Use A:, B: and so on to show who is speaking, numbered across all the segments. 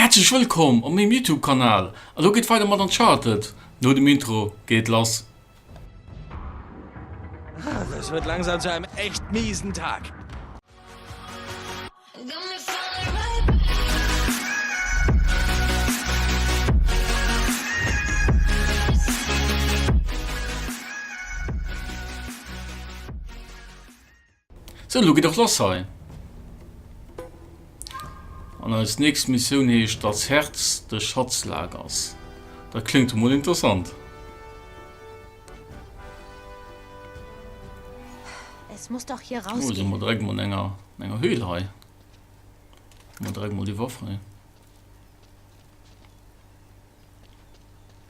A: Häerzlech wëllkomm op mengem Youtube Kanal. Elo geet weider mat Uncharted no dem Intro geet lass. Ah, das wird langsam zu einem echt miesen Tag. So, lo geet och lass hei. An eis nächst Missioun heescht Das Herz des Schatzlagers. Dat kléngt emol interessant. Es muss doch hier raus. Oh, sind wir direkt mal in einer, in einer Höhle hei. Mal direkt mal die Waffe.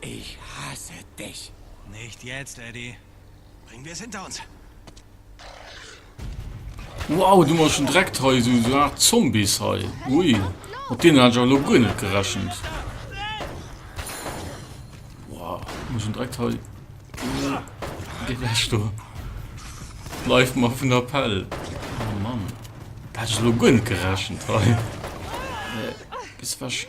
A: Ich hasse dich! Nicht jetzt, Eddy. Bring wir es hinter uns! Wow, du mol schon direkt hei esou esou Art Zombies hei. Ui, mat deenen hat ech awer elo guer net gerechent. Wow, du mol schon direkt hei. Geh weg do. Bleif mal vun der Pell. Oh Mann. Da hat ech elo guer net gerechent hei. Gehst weg.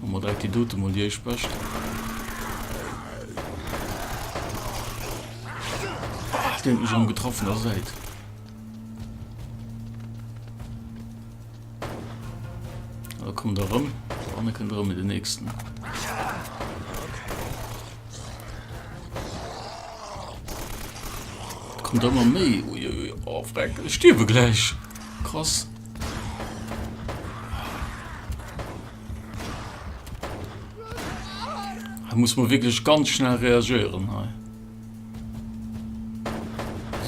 A: Hu mer direkt déi dote mol déi éischt Bescht. Ah, deen huet mech am getraff vun der Säit. Da kommt er rëm, der aner kënnt rëm mit den nächsten. Kommt ëmmer méi. Uiuiui, oh, Freck, stierwe gläich. Krass. Da muss man wirklich ganz schnell reagieren. Hei.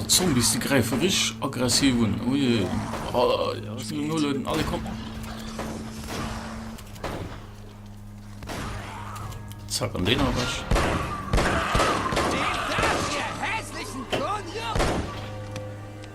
A: Die Zombies, die greifen richtig aggressiv an. Oh je. Oh, ja, das sind nur Leute, alle kommen. Zack, an den habe ich.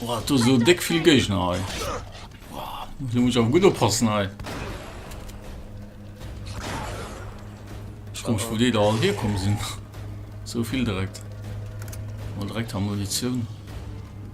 A: Boah, du so dick viel Gegner hei. Boah, du musst auch gut oppassen hei. Ich komme von dir da all herkommen sind. So viel direkt. Mal direkt haben Munition.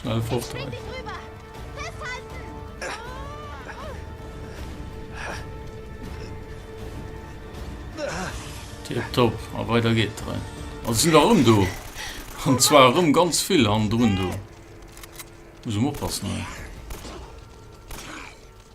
A: Schnell fort hei. Tip top, a weiter geht dran. Also sind da rum du. Und zwar rum ganz viel an drun du. Muss ich aufpassen. Ey.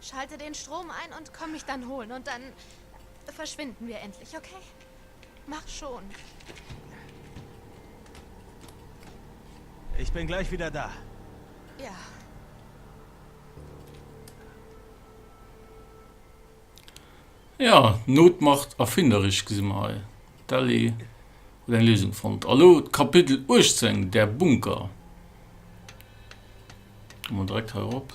A: Schalte den Strom ein und komm mich dann holen und dann verschwinden wir endlich, okay? Mach schon. Ich bin gleich wieder da. Ja. Ja, Not macht erfinderisch gesinn mer hei. D'Ellie huet eng Léisung fonnt. A lo d'Kapitel 18, der Bunker. Ginn mer direkt hei erop.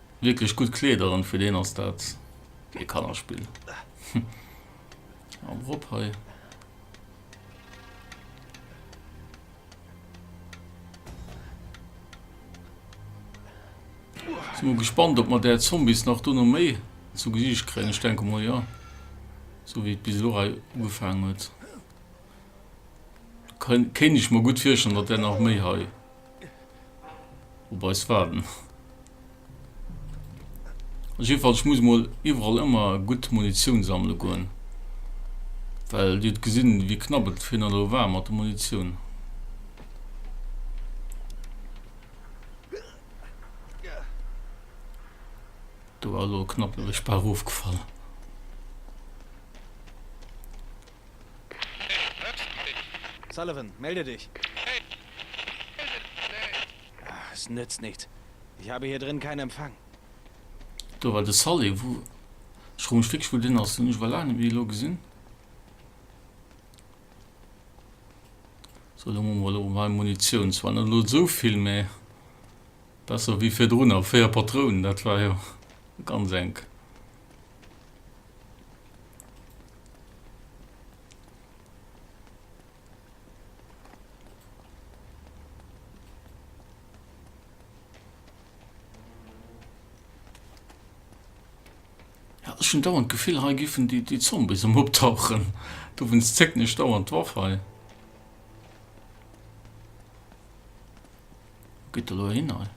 A: Wierklech gutt Kleeder an fir deen ass dat ee Kannerspill. Am Rob hei. Sin mol gespannt op mer där Zombies nach dono méi zu Gesiicht kréien. Ech denke mol jo, sou wéi et bis elo hei ugefaangen huet. Kéint ech mer gutt virstellen, datt där nach méi hei op eis waarden. Also jedenfalls, ech muss emol iwwerall ëmmer gutt Munitioun sammele goen, well Dir hutt gesinn, wéi knapp et virhin elo war mat der Munitioun. Do war elo knapp e Spar ofgefall. Sullivan, melde dich! Es nützt nichts. Ich habe hier drin keinen Empfang. Do war de Sully. Wou. Ech fro mech wierklech, wou deen ass. Deen hunn ech awer laang net méi elo gesinn. So, elo hu mer elo mei Munitioun. Zwar net elo esou vill, mä besser wéi virdrunner. Véier Patrounen, dat war jo ganz enk. Ech hun dauernd d'Gefill hei giffen déi Zombies erëm optauchen, dowéinst zécken ech dauernd d'Waff hei. Wou geet der elo hin hei?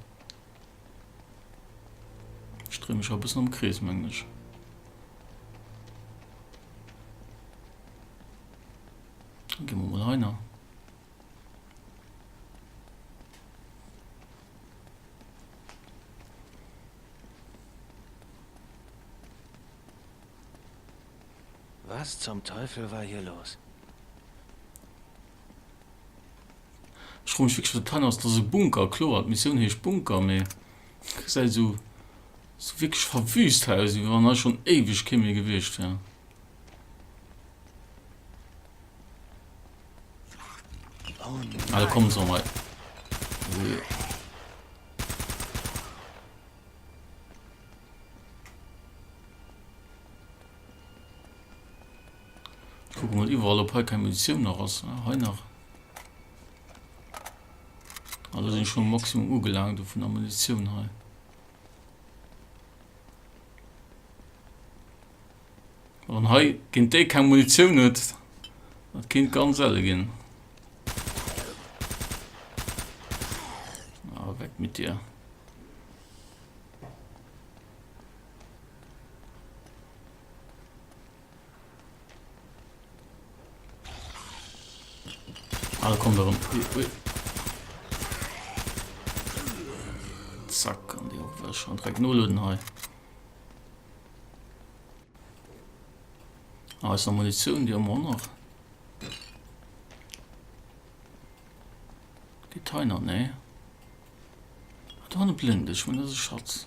A: Ech dréi mech a bëssen am Krees, mengen ech. Dann gi mer mol hei na. Was zum Teufel war hier los? Ech froe mech wierklech wat de Plan ass. Dat ass e Bunker, kloer, d'Missioun heescht Bunker, mee gesäit esou esou wierklech verwüst hei aus, wéi wann hei schonn éiweg kee méi gewiescht wär. Ah, da kommen se erëm hei. Wee. Kucken mol iwwerall op hei keng Munitioun nach ass. Ah, hei nach. Ah, do sinn ech schonn um Maximum ugelaangt do vun der Munitioun hei. Wann hei géint déi keng Munitioun huet, dat kéint ganz elle ginn. Ah, weg mit dir. Alle kommen darum. Ui, ui. Zack, an die auch wir schon direkt nur löden hei. Ah, ist noch Munition, die haben wir noch. Container, ne? Da blind, ich meine, das ist Schatz.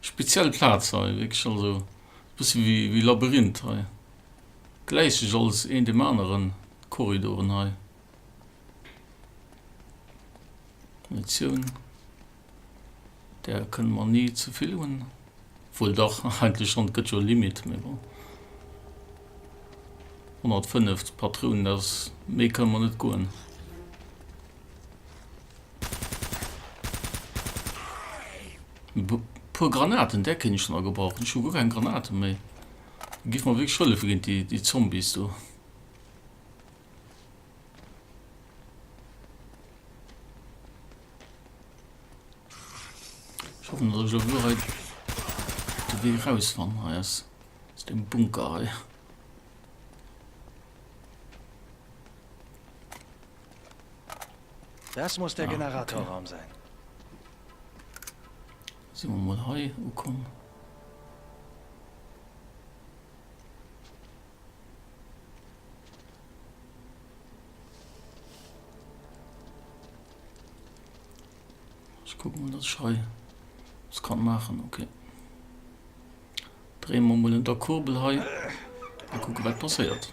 A: Speziell Platz hei wierklech, also bësse wéi Labyrinth hei, gläicht sech alles een dem aneren, d'Korridoren hei. Munitioun, där kënne mer ni zevill hunn, obwuel dach, eigentlech schonn, et gëtt jo Limite, mee bon. 105 Patrounen, dat ass, méi kënne mer net goen. Puer Granaten där kéint ech dann och gebrauchen. Ech hu guer keng Granaten méi. Giff mer wierklech hëllefen géint déi déi Zombies do. Ech hoffen dass ech lo guer hei de Wee raus fann hei aus aus dem Bunker hei. Das muss der Generatorraum sein. Sinn mer mol hei ukomm. Ich guck mal, dass ich hei was kann machen. Okay. Drehen wir mal in der Kurbel hei. Mal gucken, was passiert.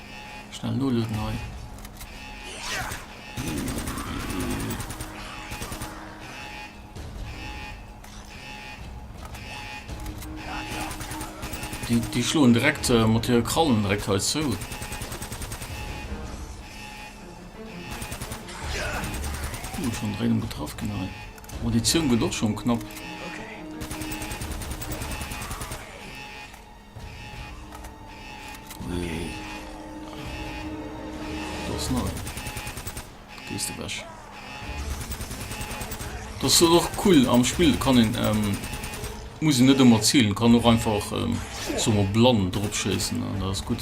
A: Schnell nolöden hei. Die, die schloen direkt äh, mat hire Krallen direkt hei zu. Uh, schon dréi getraff genau. Munition gët och schon knapp. Das soll och cool am Spiel kann den ähm, muss net immer zielen kann noch einfach ähm, so blann dropschessen das gut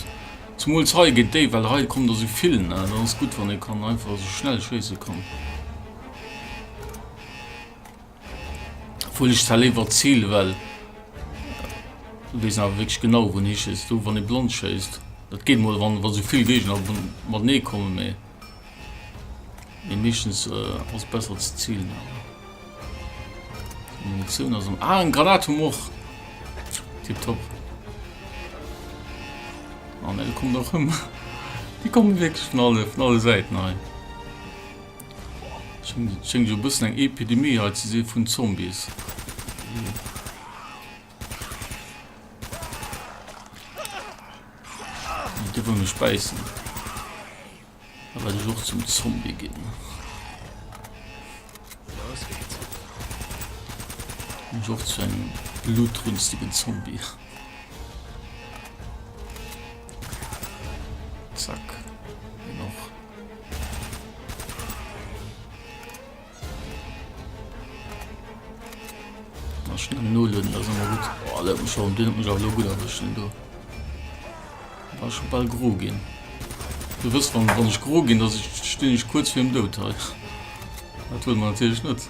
A: zum he geht de well he kommt so viel das gut wann den kann einfach so schnell schese kann. Obwuel ech zwar léiwer ziele well do weess een awer wierklech genau wou een hischéisst. Do wann ee blond schéisst, dat geet mol wann wa sou vill Géigner matenee kommen, mee mee meeschtens ass besser ze zielen awer. Munitioun ass am ah, en Granat hu mer och. Tipptopp. An ah, e kommt och ëm. Déi kommen wierklech vun alle vun alle Säiten hei. Schéngt jo e bëssen eng Epidemie hei ze si vun Zombies. Déi dierf mech bäissen. Da werde ich och zum Zombie ginn. Los geht's. Und auch zu einem blutrünstigen Zombie. Nullen dat ëmmer gut. Oh, dat mech schon Dinn mech a lo gut erwëschen do. War schon ball gro ginn. Du wëst wann wann ech gro ginn, dat ich stinn ich kurz firm Dout hei. Dat huet man natierlech net.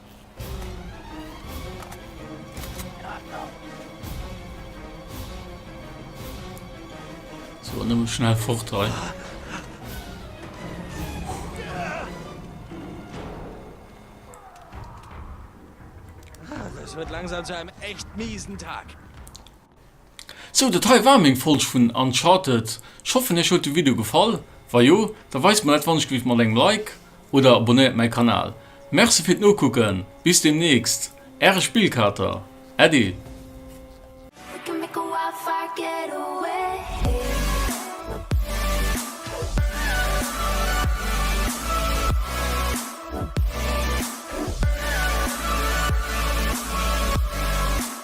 A: So, dann muss schnell fort rein. Es wird langsam zu einem echt miesen Tag. Sou, dat hei war meng Folg vun Uncharted. Ech hoffen iech huet de Video gefall. Wa jo, da weist mer dat wannechgelift mat engem Like oder abonnéiert mäi Kanal. Merci fir d'Nokucken, bis demnächst, äre Spillkater, Äddi.